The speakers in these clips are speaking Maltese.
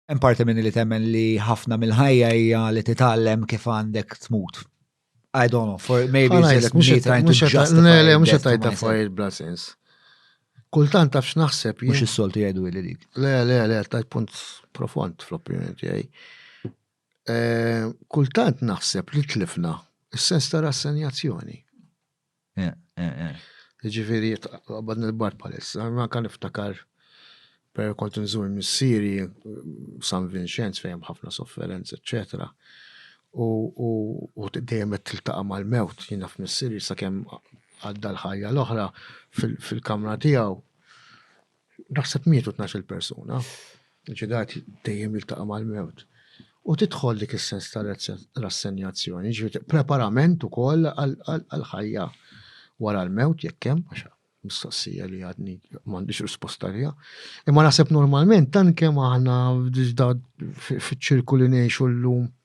Hemm parti minni li temmen li ħafna mill-ħajja hija li titgħallem kif għandek tmut. I don't know, for maybe it's just me trying to justify. Le, mux għatajt ta' fajr bla sens. Kultant tafx naħseb. Mux il-soltu jgħidu li dik. Le, le, le, tajt punt profond fl-opinjoni tiegħi. Eh, kultant naħseb li tlifna il sens ta' rassenjazzjoni. Ġifiri, għabad nil-bar palissa, ma kan iftakar per kont nżur missiri San Vincenz fejem ħafna sofferenz, etc. U dejjem qed tiltaqa' mal-mewt, jiena f'missiri sakemm għadda l-ħajja l-oħra fil-kamra tiegħu. Naħseb mietu tnax-il persuna, ġidat dejjem jiltaqa' mal-mewt. U tidħol dik is-sens ta' rassenjazzjoni, ġifieri preparament ukoll għall-ħajja wara l-mewt jekk hemm, għax mistoqsija li għadni m'għandix risposta liha. Imma naħseb normalment tant kemm aħna fiċ-ċirku li ngħixu llum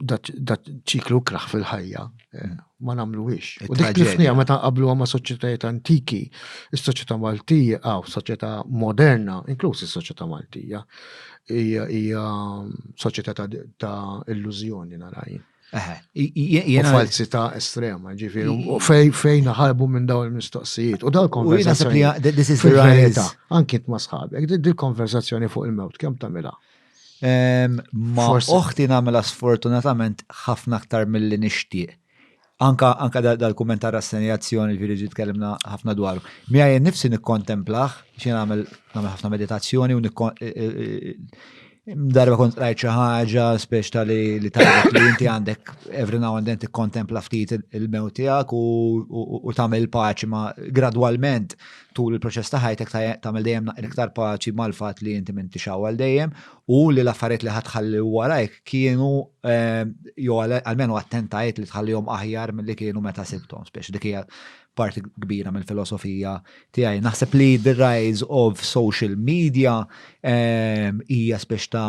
da ċiklu kraħ fil-ħajja eh, ma namlu ix. U dik tlifnija meta qablu għama soċietajiet antiki, il-soċieta Maltija, għaw, soċieta moderna, inkluż il-soċieta Maltija, hija soċieta ta' illużjoni naraj. Jena falsità estrema, ġifiri, u fejn ħarbu minn daw il-mistoqsijiet. U daw il-konversazzjoni. Anki t-masħabek, dil-konversazzjoni fuq il-mewt, kem tamila? Ma oħti namela sfortunatament ħafna aktar mill-li nishtiq. Anka, anka dal-kumment ta' rassenjazzjoni ġiri ġi tkellimna ħafna dwaru. Mi għajn nifsi nikkontemplaħ, xie namel namel ħafna meditazzjoni u e- e- e- darba kont rajt xi ħaġa spiex ta' li li tajjeb li inti għandek every now and then tikkontempla ftit il-mew tiegħek u tagħmel paċi ma gradwalment tul il-proċess ta' ħajtek tagħmel dejjem naqra iktar paċi mal-fatt li inti minn tixaw għal dejjem u li l-affarijiet li ħadħalli warajk kienu ehm, jew għalmenu attentajt li tħallihom aħjar milli kienu meta sibthom spiex dik hija parti kbira mill-filosofija tiegħi. Naħseb li the rise of social media ehm, hija spiex ta'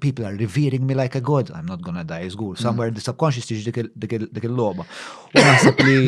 people are revering me like a god, I'm not gonna die, zgur, mm. somewhere in the subconscious tiġ dik il-loba. U naħseb li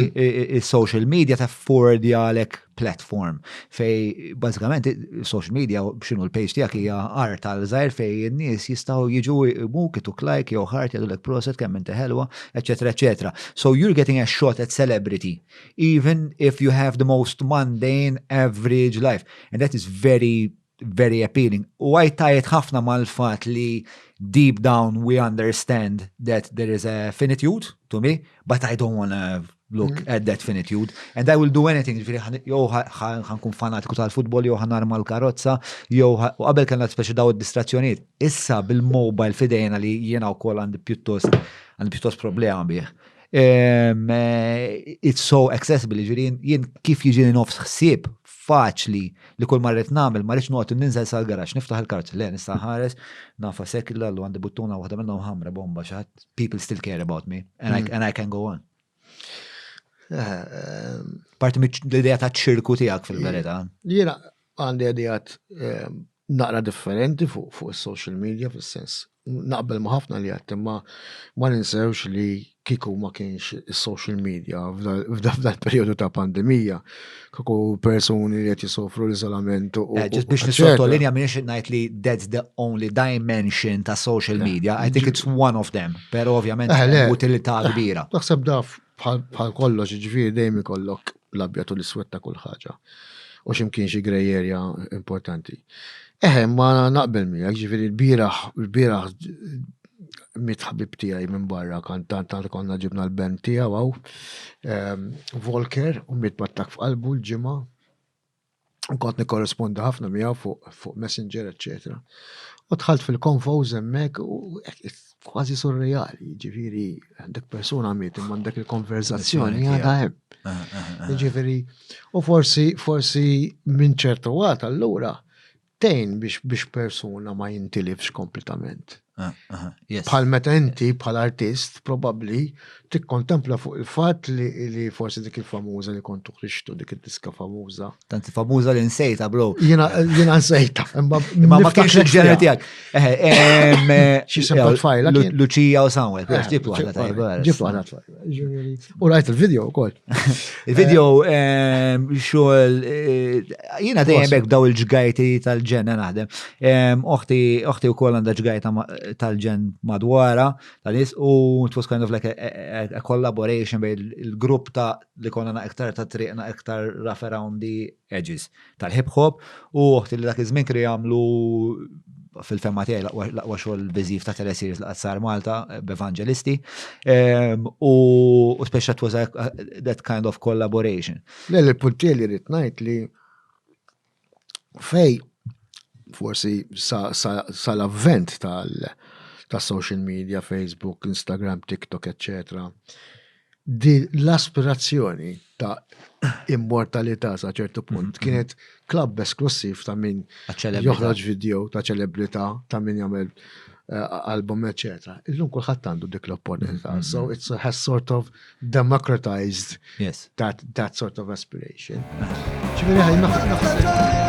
il-social media ta' forward għalek platform fej, bazzikament, social media, xinu l-page tijak hija art għal zaħir fej n-nis jistaw jiġu mu kitu klajk, jew ħart, jadu l-ek proset, kemm inti ħelwa, etc. etc. So you're getting a shot at celebrity, even if you have the most mundane, average life. And that is very very appealing. U għaj tajet ħafna mal-fat li deep down we understand that there is a finitude to me, but I don't want to look mm. at that finitude. And I will do anything, ġifiri, jow ħankun fanatiku tal-futbol, jow ħan arma l-karozza, jow u qabel kena speċi daw distrazzjoniet. Issa bil-mobile fidejna li jena u kol għandi pjuttost, għandi pjuttost problema bieħ. Eh, it's so accessible, ġifiri, jien kif jiġi nofs xsib faċli li kull marret nagħmel ma rridx noqgħod ninżel sal-garaġġ niftaħ il-karozza le nista' nħares nafa sekilla l għandi buttuna waħda minnhom ħamra bomba xi ħadd people still care about me and, mm. I, and I can go on. Eh, ehm, Parti l-idea ta' ċirku tiegħek fil-verità. Jiena għandi għadijat ehm, naqra differenti fuq fuq is-social media fis-sens naqbel ma' ħafna li għedt imma ma ninsewx li kieku ma kienx is-social media f'dan perjodu ta' pandemija kieku persuni li qed jisofru l-iżolament u eh, ġiet biex nisottolinja minn xi ngħid li that's the only dimension ta' social eh, media I think it's one of them però ovvjament eh, utilità kbira. Naħseb daf bħal kollox ġifieri dejjem ikollok l-abjad u l-iswed ta' kull ħaġa. U ximkien xi grey area importanti. Eħe, ma naqbel miegħek, ġifieri l-bieraħ, l-bieraħ mit ħabib tiegħi minn barra kan tant tant konna ġibna l-ben tiegħu għaw. Ehm, Volker u mit mattak f'qalbu l-ġimgħa. Nkont nikkorrespondi ħafna miegħu fuq fu Messenger, eċċetera. U tħalt fil-konfo żemmek u kważi surreali, ġifiri, dak persuna miet imma dak il-konverzazzjoni għadha hemm. Ah, ah, ah. Ġifiri, u forsi, forsi minn ċertu għat allura tgħin biex biex persuna ma jintilifx kompletament. Ah, bħal meta inti bħal artist probabbli tikkontempla fuq il-fatt li forsi dik il-famuża li kont tuħrixtu dik id-diska famuża. Tant famuża li nsejta bro. Jiena jiena nsejta. Imma ma kienx il-ġener tiegħek. Eh, eh, eh, Xi sempot fajla. Luċija u Samuel, ġib waħda tajba. Ġib waħda U rajt il-video u koll. Il-video ehm, xogħol eh, jiena dejjem hekk daw il-ġgajti tal-ġen naħdem. Ehm, oħti oħti wkoll għandha ġgajta tal-ġen madwara tal-is u it was kind of like a collaboration bejn il-grupp ta' li konna na iktar ta' triqna iktar rough around the Edges, tal-hip hop u oħti li dak iż-żmien kienu jagħmlu fil-femma tiegħi l-aqwa xogħol biżiv ta' teleseries li qatt sar Malta b'Evangelisti ehm, u speċa it was that kind of collaboration. Le li punti li rrid ngħid li fej forsi sa l-avvent tal ta' social media, Facebook, Instagram, TikTok, etc. Din l-aspirazzjoni ta' immortalità sa' ċertu punt kienet klabb esklussiv ta' min joħroġ video ta' ċelebrità, ta' min jagħmel eh, album, eċetera. Illum kulħadd għandu dik l-opportunità. So it has sort of democratized yes. that, that sort of aspiration. Ġifieri ħaj naħseb.